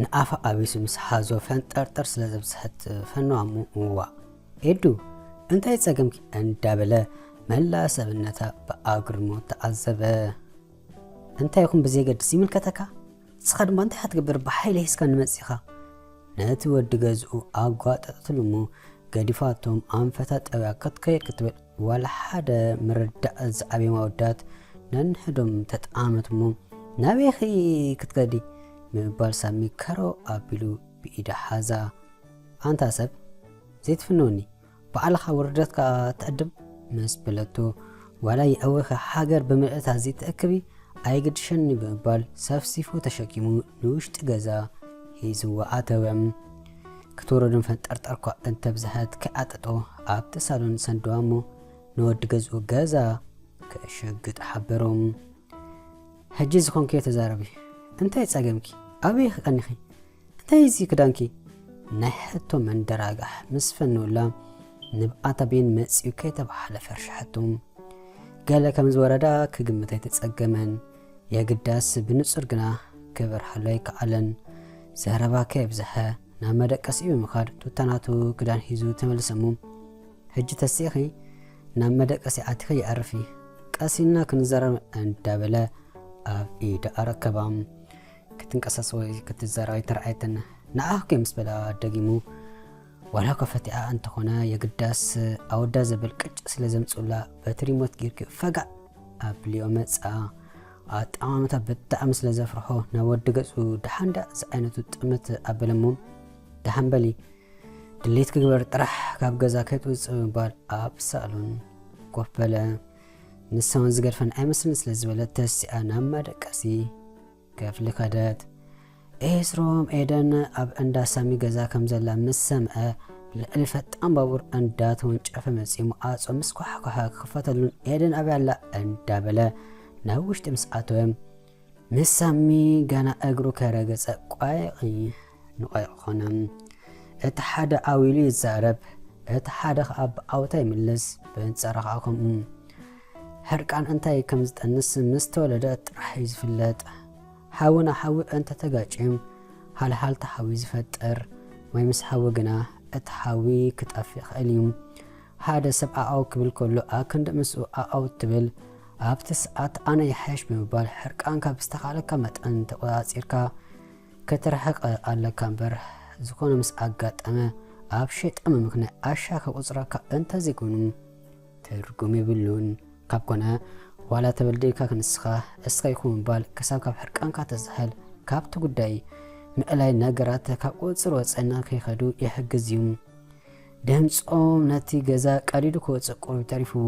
ንኣፋ ኣቢሱ ምስ ሓዞ ፈንጠርጠር ስለ ዘብጽሐት ፈኗሙ ዋእ ኤዱ እንታይ ጸገምኪ እንዳበለ መላእ ሰብነታ ብኣግርሞት ተዓዘበ። እንታይ ይኹን ብዘየገድስ ይምልከተካ ንስኻ ድማ እንታይ ክትገብር ብሓይሊ ሒዝካ ንመጺኻ ነቲ ወዲ ገዝኡ ኣጓጠጠትሉ እሞ ገዲፋቶም ኣንፈታ ጠብያ ክትከይድ ክትብል ዋላ ሓደ ምርዳእ ዝዓብዮም ኣወዳት ነንሕዶም ተጠማመቱ እሞ ናበይኺ ክትከዲ ብምባል ሳሚ ከሮ ኣቢሉ ብኢዳ ሓዛ። ኣንታ ሰብ ዘይትፍንወኒ ባዕልኻ ውርደትካ ትዕድም ምስ በለቶ ዋላ የእዊኺ ሃገር ብምልእታ ዘይትእክቢ ኣይግድሸኒ ብምባል ሰፍሲፉ ተሸኪሙ ንውሽጢ ገዛ ሒዝዋ ኣተወ። ክትወረዶም ፈንጠርጠርኳ እንተብዝሐት ክዓጥጦ ኣብቲ ሳሎን ሰንደዋ እሞ ንወዲ ገዝኡ ገዛ ክእሸግጥ ሓበሮም። ሕጂ ዝኾንክዮ ተዛረቢ እንታይ ጸገምኪ ኣበይ ኢኺ ቀኒኺ እንታይ እዚ ክዳንኪ ናይ ሕቶ መንደራጋሕ ምስ ፈነውላ ንብኣታ ቤን መጽዩ ከይተባህለ ፈርሸሐቶም። ገለ ከም ዝወረዳ ክግምት ኣይተጸገመን። የግዳስ ብንጹር ግና ክበርሃሉ ኣይከኣለን። ዘረባ ከየብዝሐ ናብ መደቀሲ ብምኻድ ቱታ ናቱ ክዳን ሒዙ ተመልሰ እሞ፣ ሕጂ ተሲእኺ ናብ መደቀሲ ኣቲኺ ኣዕርፊ፣ ቀስ ኢልና ክንዛረብ እንዳበለ ኣብ ኢዳ ኣረከባ። ክትንቀሳስ ወይ ክትዛረብ ኣይተራእየትን። ንዓኺ ከ ምስ በላ ደጊሙ። ዋላ ከፈቲኣ እንተኾነ የግዳስ ኣወዳ ዘበል ቅጭ ስለ ዘምጽኡላ በቲ ሪሞት ጌርኪ ፈጋእ ኣብሊኦ መጻ። ኣጠማምታ ብጣዕሚ ስለ ዘፍርሖ ናብ ወዲ ገጹ ደሓን ደኣ ዝዓይነቱ ጥምት ኣበለ እሞ ደሓን በሊ ድሌት ክግበር ጥራሕ ካብ ገዛ ከይትውጽእ ብምባል ኣብ ሳሎን ኮፍ በለ። ንሳውን ዝገድፈን ኣይመስልን ስለ ዝበለ ተሲኣ ናብ መደቀሲ ክፍሊ ከደት፣ ኤስሮም ኤደን ኣብ እንዳ ሳሚ ገዛ ከም ዘላ ምስ ሰምዐ፣ ብልዕሊ ፈጣን ባቡር እንዳ ተወንጨፈ መጺኡ መዓጾ ምስ ኳሕኳሐ ክኽፈተሉን ኤደን ኣበይ ኣላ እንዳ በለ ናብ ውሽጢ ምስ ኣተወ፣ ምስ ሳሚ ገና እግሩ ከይረገጸ ቋይቒ ንቋይቒ ኮነ። እቲ ሓደ ዓው ኢሉ ይዛረብ፣ እቲ ሓደ ከኣ ብዓውታ ይምልስ፣ ብንጻራ ከኣ ከምኡ። ሕርቃን እንታይ ከም ዝጠንስ ምስ ተወለደ ጥራሕ እዩ ዝፍለጥ። ሓዊ ንሓዊ እንተ ተጋጭዩም ሃልሃልታ ሓዊ ዝፈጥር ወይ ምስ ሓዊ ግና እቲ ሓዊ ክጠፍ ይኸእል እዩ። ሓደ ሰብ ዓዓው ክብል ከሎ ኣክንዲ ምስኡ ዓዓው እትብል ኣብቲ ሰዓት ኣነ ይሓይሽ ብምባል ሕርቃንካ ብዝተኻለካ መጠን ተቆጻጺርካ ክትርሕቕ ኣለካ እምበር ዝኾነ ምስ ኣጋጠመ ኣብ ሸይጣን ምምክናይ ኣሻ ከቁጽረካ እንተ ዘይኮይኑ ትርጉም የብሉን ካብ ኮነ ዋላ ተበድልካ ክንስኻ እስኻ ኢኹ ምባል ክሳብ ካብ ሕርቃንካ ተዝሕል ካብቲ ጉዳይ ምእላይ ነገራት ካብ ቁጽጽር ወጻኢ ንከይኸዱ ይሕግዝ እዩ ድምጾም ነቲ ገዛ ቀዲዱ ክወጽእ ቁሩብ ተሪፍዎ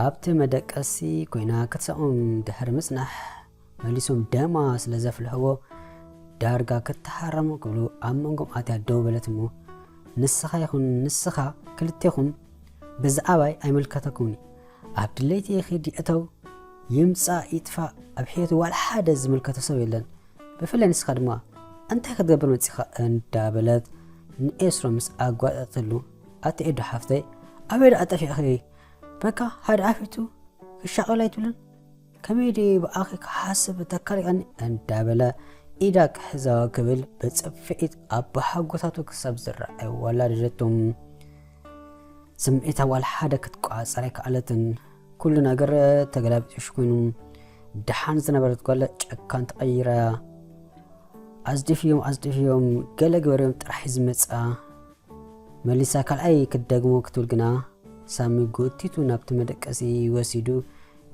ኣብቲ መደቀሲ ኮይና ክትሰኦም ድሕሪ ምጽናሕ መሊሶም ደማ ስለ ዘፍልሕዎ ዳርጋ ክተሃረሙ ክብሉ ኣብ መንጎም ኣትያ ደው በለት እሞ ንስኻ ይኹን ንስኻ ክልቴኹም ብዛዕባይ ኣይምልከተኩምን እዩ ኣብ ድለይቲ ይኺድ ይእተው ይምጻእ ይጥፋእ ኣብ ሕይወቱ ዋላ ሓደ ዝምልከቶ ሰብ የለን ብፍላይ ንስኻ ድማ እንታይ ክትገብር መጺኻ እንዳበለት ንኤስሮ ምስ ኣጓጠጠሉ ኣቲ ኤዶ ሓፍተይ ኣበይ ደኣ ጠፊዕኺ በካ ሓደ ኣፊቱ ክሻቐል ኣይትብልን ከመይ ድየ ብኣኺ ክሓስብ እተካልቀኒ እንዳበለ ኢዳ ክሕዛ ክብል ብጽፍዒት ኣባሓጎታቱ ክሳብ ዝረኣይ ኣዋላደደቶ። ስምዒታ ዋላ ሓደ ክትቆጻጸር ኣይከኣለትን። ኩሉ ነገር ተገላቢጦሽ ኮይኑ ደሓን ዝነበረት ጓለ ጨካን ተቐይራ ኣዝዲፍዮም ኣዝዲፍዮም ገለ ግበርዮም ጥራሕ ዝመጻ መሊሳ ካልኣይ ክትደግሞ ክትብል ግና ሳሚ ጎቲቱ ናብቲ መደቀሲ ወሲዱ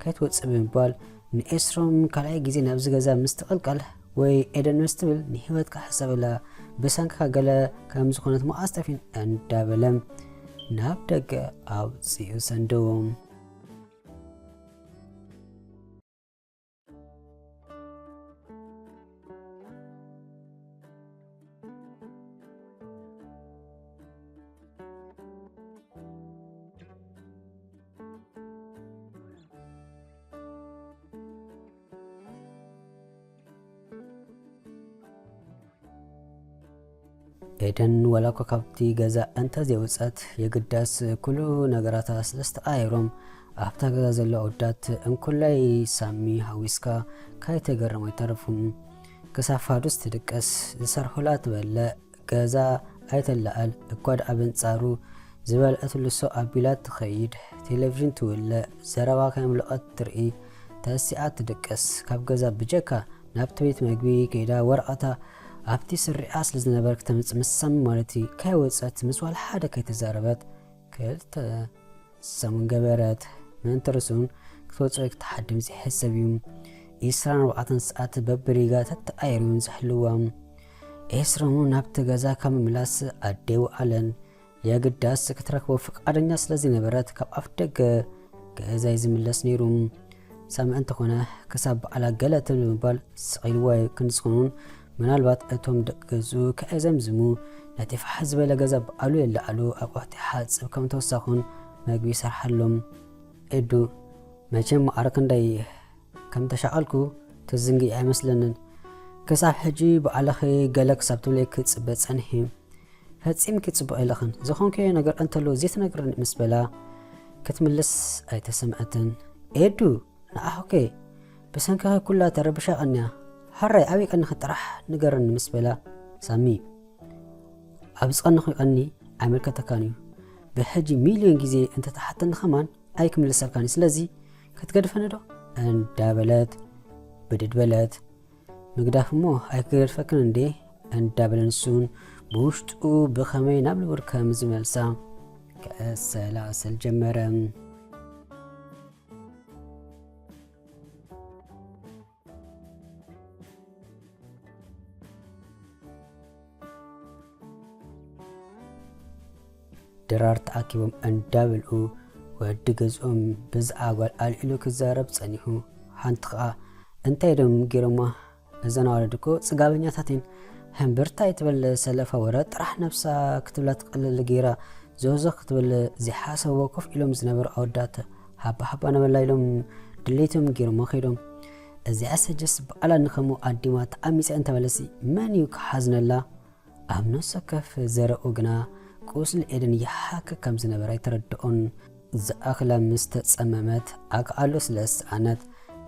ከይትወጽእ ብምባል ንኤስሮም ካልኣይ ግዜ ናብዚ ገዛ ምስ ትቕልቀል ወይ ኤደን ምስ ትብል ንህይወትካ ሕሰበላ ብሰንክካ ገለ ከም ዝኾነት መኣስ ጠፊኡን እንዳበለ ናብ ደገ ኣውጺኡ ሰንደዎም። ኤደን ወላ እኳ ካብቲ ገዛ እንተ ዘይወጸት የግዳስ ኩሉ ነገራታ ስለ ዝተቐያየሮም ኣብታ ገዛ ዘሎ ኣወዳት እንኩላይ ሳሚ ሃዊስካ ካይተገረሙ ኣይተረፉን። ክሳብ ፋዱስ ትድቀስ ዝሰርሑላ ትበልዕ ገዛ ኣይተላኣል እኳ ድኣ በንጻሩ ዝበልዐትሉ ሰው ኣቢላ ትኸይድ ቴለቭዥን ትውልዕ ዘረባ ከየምለቖት ትርኢ ተሲኣ ትድቅስ ካብ ገዛ ብጀካ ናብቲ ቤት መግቢ ከይዳ ወረቐታ ኣብቲ ስሪዓ ስለ ዝነበረ ክተምጽእ ምስ ሳሚ ማለት'ዩ ከይወጸት ምስ ዋላ ሓደ ከይተዛረበት ክልተ ሰሙን ገበረት፣ ምእንቲ ርእሱን ክትወጽእ ክትሓድም ዘይሕሰብ እዩ። ኢስራን ኣርባዕተን ሰዓት በብሪጋ ተተኣኢሩ እዩን ዝሕልዋ። ኤስሮም'ውን ናብቲ ገዛ ካብ ምምላስ ኣደይ ወኣለን። የግዳስ ክትረክቦ ፍቃደኛ ስለዘይነበረት ካብ ኣፍደገ ገዛይ ዝምለስ ነይሩ ሰምዐ እንተኾነ ክሳብ በዓላ ገለ እትብል ብምባል ስቒልዎ ክንጽኑን ምናልባት እቶም ደቂ ገዝኡ ከየዘምዝሙ ነቲ ፋሕ ዝበለ ገዛ በዓሉ የለዓሉ ኣቑሑት ይሓጽብ ከም ተወሳኹን መግቢ ይሰርሓሎም ኤዱ መቸም ማዕረ ክንደይ ከም ተሻቐልኩ ትዝንግኢ ኣይመስለንን ክሳብ ሕጂ በዓልኺ ገለ ክሳብ ትብለይ ክጽበ ጸኒሒ ፈጺምኪ ጽቡቕ የለኽን፣ ዝኾንክዮ ነገር እንተሎ ዘይትነግርኒ ምስ በላ ክትምልስ ኣይተሰምዐትን። ኤዱ ንዓኹከ ብሰንክኺ ኩላ ተረቢሻ ቀንያ፣ ሐራይ ኣበይ ቀኒኺ ጥራሕ ንገርኒ ምስ በላ ሳሚ ኣብ ዝቀንኹ ይቀኒ ኣይምልከተካን እዩ ብሕጂ ሚልዮን ግዜ እንተትሓተኒ ከማን ኣይክምልሰልካን እዩ ስለዚ ክትገድፈኒ ዶ እንዳበለት ብድድ በለት። ምግዳፍ እሞ ኣይክገድፈክን እንዴ እንዳበለ ንሱውን ብውሽጡ ብኸመይ ናብ ንቡር ከም ዝመልሳ ከሰላስል ጀመረ። ድራር ተኣኪቦም እንዳበልዑ ወዲ ገዝኦም ብዝኣ ጓል ኣልዒሉ ክዛረብ ጸኒሑ ሓንቲ ከኣ እንታይ ዶም ጌሮማ እዘን ኣዋልድ እኮ ጽጋበኛታት እየን ህምብርታ ይትበል ሰለፋ ወረ ጥራሕ ነብሳ ክትብላ ትቀልል ጌራ ዞዞ ክትብል ዘይሓሰብዎ ኮፍ ኢሎም ዝነበሩ ኣወዳት ሃባ ሃባ ነበላ ኢሎም ድሌቶም ጌሮማ ከይዶም እዚኣ ሰጀስ ባዕላ ንከምኡ ኣዲማ ተዓሚጸ እንተበለሲ መን እዩ ክሓዝነላ? ኣብ ነፍሰከፍ ዘረኡ ግና ቁስሊ ኤደን ይሓክክ ከም ዝነበረ ኣይተረድኦን። ዝኣክላ ምስ ተጸመመት ኣክኣሎ ስለ ዝሰኣነት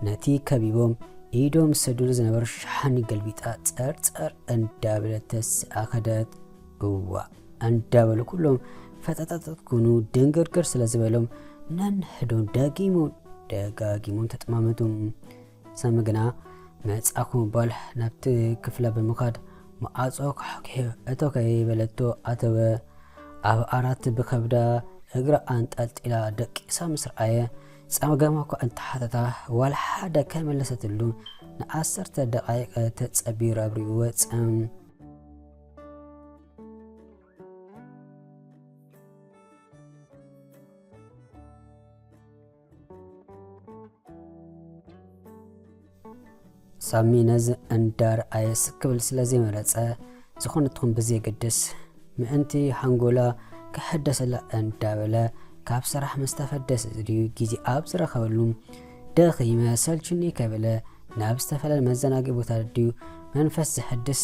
ነቲ ከቢቦም ኢዶም ዝሰዱሉ ዝነበሩ ሸሓኒ ገልቢጣ ጸርጸር እንዳበለት ተሲኣ ከደት። እዋእ እንዳበሉ ኩሎም ፈጠጠጠጥ ኩኑ ድንግርግር ስለ ዝበሎም ነንሕዶም ደጊሞም ደጋጊሞም ተጠማመቱ። ሳሚ ግና መጻእኩ ብምባል ናብቲ ክፍላ ብምኻድ መኣጾ ኳሕኲሑ እቶ ከይበለቶ ኣተወ። ኣብ ዓራት ብከብዳ እግራ ኣንጠልጢላ ደቂሳ ምስ ረኣየ ጸገማ እኳ እንተሓተታ ዋላ ሓደ ከይመለሰትሉ ንዓሰርተ ደቓይቕ ተጸቢዩ ራብሪኡ ወጸ። ሳሚ ነዚ እንዳር ኣየስ ክብል ስለ ዘይመረጸ ዝኾነ ትኹን ብዘየገድስ ምእንቲ ሃንጎላ ክሕደሰላ እንዳበለ ካብ ስራሕ ምስ ተፈደሰ ዝድዩ ግዜ ኣብ ዝረኸበሉ ደኺመ ሰልቹኒ ከይበለ ናብ ዝተፈላለዩ መዘናግዒ ቦታ ድዩ መንፈስ ዘሐድስ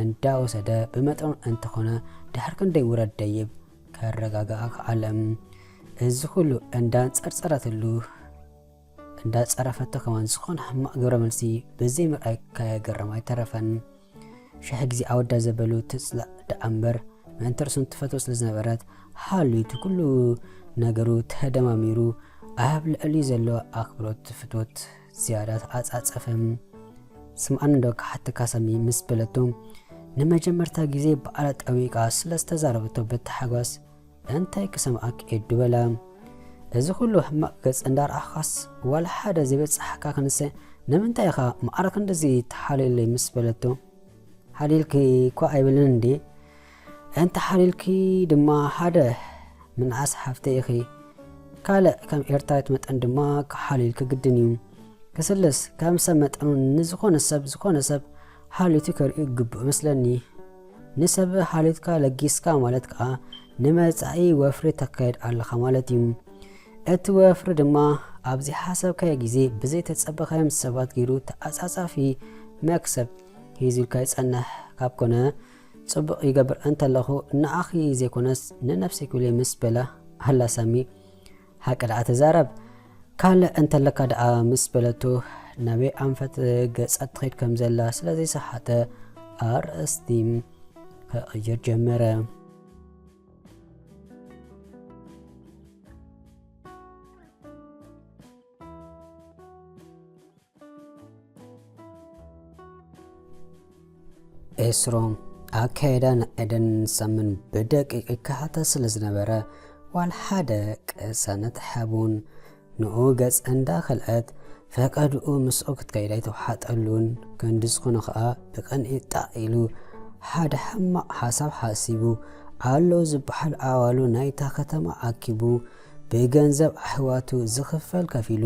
እንዳወሰደ ብመጠኑ እንተኾነ ድሕሪ ክንደይ ውረድ ደይብ ከረጋግኣ ከኣለ። እዚ ኩሉ እንዳንጸርጸረትሉ እንዳጸረፈቶ ከማን ዝኾነ ሕማቕ ግብረ መልሲ ብዘይምርኣይ ከየገረማ ኣይተረፈን። ሽሕ ግዜ ኣወዳ ዘበሉ ትጽላእ ደኣ እምበር ምእንቲ ርእሱ ትፈቶ ስለ ዝነበረት ሃልዩ እቲ ኩሉ ነገሩ ተደማሚሩ ኣብ ልዕሊ ዘሎ ኣኽብሮት ፍቶት ዝያዳ ተዓጻጸፈ። ስምዓኒ ዶ ክሓተካ ሳሚ ምስ በለቶ ንመጀመርታ ግዜ ብኣላ ጠዊቃ ስለ ዝተዛረበቶ ብታሕጓስ እንታይ ክሰምዓኪ ኤዱ በላ እዚ ኩሉ ሕማቅ ገጽ እንዳርኣኻስ ዋላ ሓደ ዘይበጻሓካ ክንሰ ንምንታይ ኢኻ ማዓር ክንድዚ ትሓልየለይ ምስ በለቶ ሓሊልኪ እኳ ኣይብልን እንድየ እንተሓሊልኪ ድማ ሓደ ምንዓስ ሓፍተይ ኢኺ ካልእ ከም ኤርትራዊት መጠን ድማ ክሓሊልኪ ግድን እዩ ክስልስ ከም ሰብ መጠኑ ንዝኾነ ሰብ ዝኾነ ሰብ ሓሊቱ ከርእዩ ግቡእ መስለኒ ንሰብ ሃልዮትካ ለጊስካ ማለት ከኣ ንመጻኢ ወፍሪ ተካይድ ኣለኻ ማለት እዩ። እቲ ወፍሪ ድማ ኣብ ዘይሓሰብካዮ ግዜ ብዘይ ተጸበኻዮም ሰባት ገይሩ ተዓጻጻፊ መክሰብ ሒዙልካ ይጸንሕ ካብ ኮነ ጽቡቕ ይገብር እንተለኹ ንዓኺ ዘይኮነስ ንነብሰኪ'ዩ ምስ በላ ኣላ ሳሚ ሃቂ ደኣ ተዛረብ ካልእ እንተለካ ደኣ ምስ በለቱ ናበይ ኣንፈት ገጻ ትኸይድ ከም ዘላ ስለ ዘይሰሓተ ኣርእስቲ ክቕይር ጀመረ። ኤስሮም ኣካየዳ ንኤደን ሰምን ብደቂቕ ይከታተል ስለ ዝነበረ ዋል ሓደ ቅሳነት ሓቡን ንኡ ገጽ እንዳኸልዐት ፈቀድኡ ምስኡ ክትከይድ ኣይተውሓጠሉን ክንዲ ዝኾነ ኸኣ ብቕንኢ ጣቕ ኢሉ ሓደ ሕማቕ ሓሳብ ሓሲቡ ኣለዉ ዝበሃል ኣዋሉ ናይታ ከተማ ኣኪቡ ብገንዘብ ኣሕዋቱ ዝኽፈል ከፊሉ